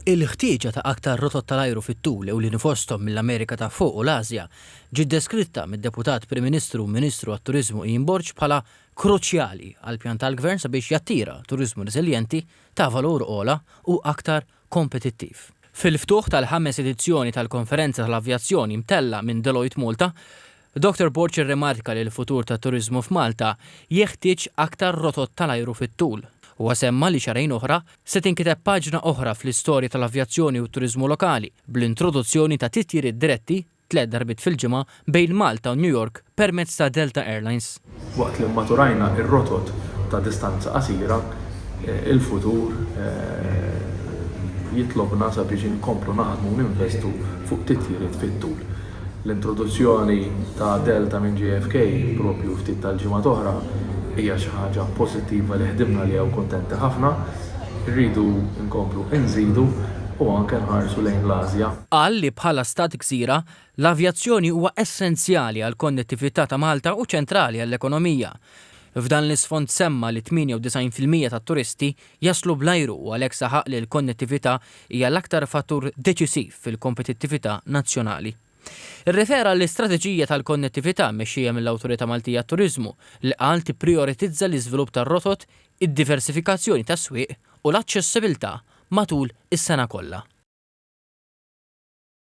Il-ħtieġa ta' aktar rotot tal-ajru fit-tul ewlieni fosthom mill-Amerika ta' Fuq u l-Ażja ġiet deskritta mid-Deputat Prim Ministru u Ministru għat-Turiżmu Ian Borg bħala kruċjali għall-pjan tal-Gvern sabiex jattira turiżmu reżiljenti, ta' valur ogħla u aktar kompetittiv. Fil-ftuħ tal-ħames edizzjoni tal-Konferenza tal-Avjazzjoni mtellgħa minn Deloitte Malta, Doctor Borg irrimarka li l-futur tat-turiżmu f'Malta jeħtieġ aktar rotot tal-ajru fit-tul. Huwa semma li xahrejn oħra se tinkiteb paġna oħra fl-istorja tal-avjazzjoni u t-turiżmu lokali bl-introduzzjoni ta' titjiriet diretti, tliet darbiet fil-ġimgħa, bejn Malta u New York permezz ta' Delta Airlines. Waqt li mmaturajna r-rotot ta' distanza qasira, il-futur jitlobna sabiex inkomplu naħdmu u ninvestu fuq titjiriet fit-tul. L-introduzzjoni ta' Delta minn JFK proprju ftit tal-ġimgħat oħra hija xi ħaġa pożittiva li ħdimna għaliha u kuntenti ħafna. Irridu nkomplu nżidu u anke nħarsu lejn l-Ażja. Qal li bħala stat gżira, L-avjazzjoni huwa essenzjali għall-konnettività ta' Malta u ċentrali għall-ekonomija. F'dan l-isfond semma li 98 fil-mija tat-turisti jaslu bl-ajru u għalhekk saħaq li l-konnettività hija l-aktar fattur deċisiv fil-kompetittività nazzjonali. Irrefera għall-istrateġija tal-konnettività mmexxija mill-Awtorità Maltija għat-Turiżmu li qal tipprijoritizza l-iżvilupp tar-rotot, id-diversifikazzjoni tas-swieq u l-aċċessibilità matul is-sena kollha.